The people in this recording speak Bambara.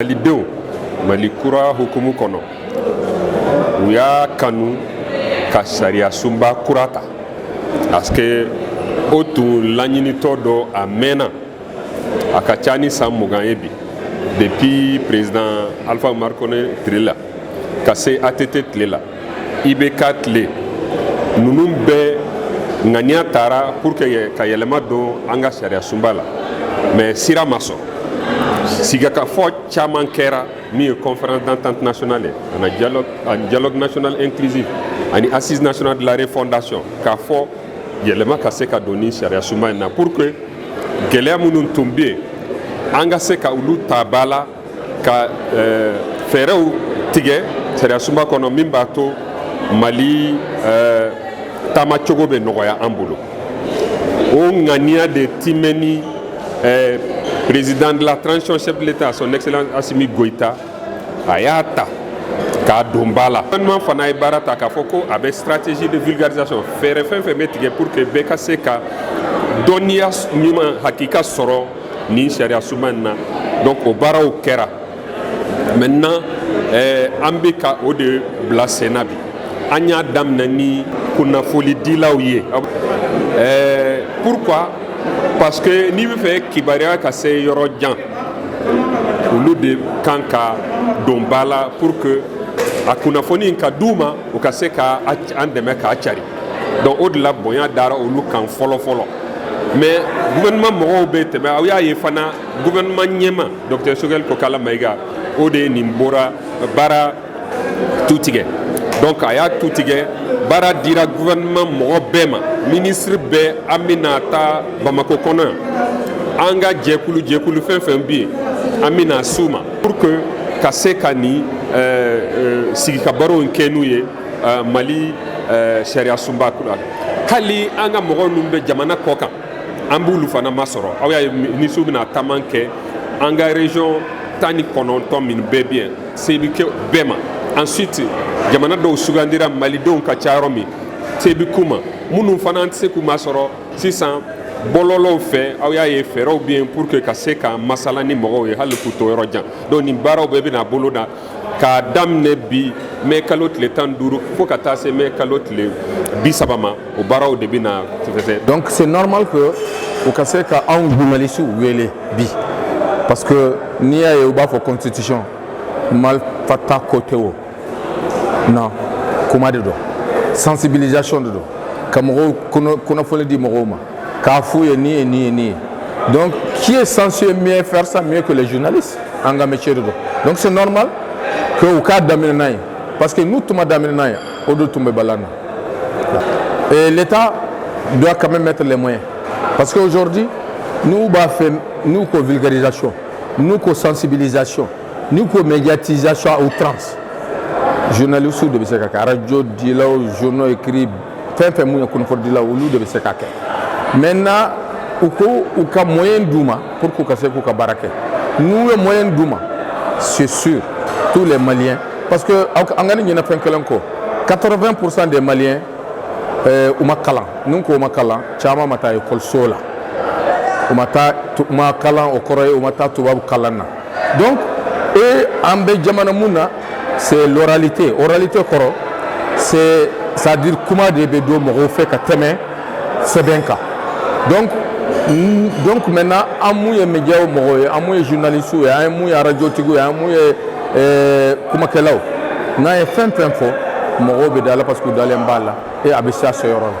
Malidenw mali kura hukumu kɔnɔ u y'a kanu ka sariyasunba kura ta parce que o tun laɲinitɔ don a mɛnna a ka ca ni san mugan ye bi depuis président alpha oumar konaré tile la ka se att tile la ibk tile ninnu bɛɛ ŋaniya tara pour que ka yɛlɛma don an ka sariya sunba la mais sira ma sɔrɔ sigikafɔ caman kɛra min ye conférence d'entente nationale ani dialogue, ani dialogue national inclusif ani assises nationales de la refondation k'a fɔ yɛlɛma ka se ka don nin sariya sunba in na pour que gɛlɛya minnu tun bɛ yen an ka se ka olu ta ba la ka eh, fɛɛrɛw tigɛ sariyasunba kɔnɔ min b'a to mali eh, taama cogo bɛ nɔgɔya an bolo o ŋaniya de timɛni eh, président de la transition chef de l'état son excellence asimi goyita a y'a ta k'a don ba la gouvernement fana ye baara ta k'a fɔ ko a bɛ stratégie de vulgarisation fɛɛrɛ fɛn fɛn bɛ tigɛ pour que bɛɛ ka se ka dɔnniya ɲuman hakika sɔrɔ nin sariya sunba in na donc o baaraw kɛra maintenant eh, an bɛ ka o de bila senna bi an y'a daminɛ ni kunnafonidilaw ye eh, pourquoi parce que n'i b'a fɛ kibaruya ka se yɔrɔ jan olu de kan ka don ba la pour que a kunnafoni in ka d'u ma u ka se ka an dɛmɛ k'a cari donc o de la bonya dara olu kan fɔlɔ fɔlɔ mais gouvernement mɔgɔw bɛ tɛmɛ aw y'a ye fana gouvernement ɲɛmaa docteur sogɛli kokala mayiga o de ye nin bɔra baara tu tigɛ donc a y'a tu tigɛ baara dira gouvernement mɔgɔ bɛɛ ma ministre bɛɛ an bɛna taa bamako kɔnɔ yan an ka jɛkulu jɛkulu fɛn fɛn bɛ yen an bɛna s'u ma pour que ka se ka nin sigikabarow kɛ n'u ye uh, mali uh, sariya sunba kura hali an ka mɔgɔ minnu bɛ jamana kɔ kan an b'olu fana masɔrɔ aw y'a ye ministrew bɛna taama kɛ an ka region tan ni kɔnɔntɔn min bɛɛ bɛ yen se bɛ kɛ bɛɛ ma ensuite jamana dɔw sugandira malidenw ka ca yɔrɔ min se bɛ k'u ma minnu fana an tɛ se k'u masɔrɔ sisan bɔlɔlɔw fɛ aw y'a ye fɛɛrɛw bɛ yen pour que ka se ka masala ni mɔgɔw ye hali k'u to yɔrɔ jan donc nin baaraw bɛɛ bɛna bolo da k'a daminɛ bi mɛ kalo tile tan duuru fo ka taa se mɛ kalo tile bi saba ma o baaraw de bɛna tɛfɛsɛ donc c'est normal que u ka se ka aw journalistes wele bi parce que n'i y'a ye u b'a fɔ constitution malfa ta ko tɛ o non kuma de don sensibilisation de don ka mɔgɔw kunnafoni di mɔgɔw ma k'a f'u ye nin ye nin ye nin ye donc qui est censé mieux faire ça mieux que les journalistes an ka métier de don donc c'est normal que u k'a daminɛ n'an ye parce que n'u tun m'a daminɛ n'an ye o de tun bɛ bala an na et l'état doit quand même mettre les moyens parce que aujourd'hui n'u b'a fɛ n'u ko vulgarisation n'u ko sensibilisation n'u ko médiatisation à outrance journalistes de bɛ se k'a kɛ radio dilaw journaux écrits fɛn fɛn mun ye kunnafonidilaw olu de bɛ se k'a kɛ maintenant u ko u ka moyen d'u ma pour k'u ka se k'u ka baara kɛ n'u ye moyen d'u ma c'est sûr tous les maliens parce que an kana ɲinɛ fɛn kelen kɔ 80 pourcent des maliens euh, u ma kalan n'u ko u ma kalan caman ma taa ekɔliso la u ma taa u ma kalan o kɔrɔ ye u ma taa tubabu kalan na donc e an bɛ jamana mun na c'est l'oralité oralité kɔrɔ c'est c'est à dire kuma de bɛ don mɔgɔw fɛ ka tɛmɛ sɛbɛn kan donc donc maintenant an mun ye médiaw mɔgɔw ye an mun ye journalistiw ye an ye mun ye arajotigiw ye an mun ye eh, kumakɛlaw n'an ye fɛn fɛn fɔ mɔgɔw bɛ da a la parce que u dalen b'a la et a bɛ se a seyɔrɔ la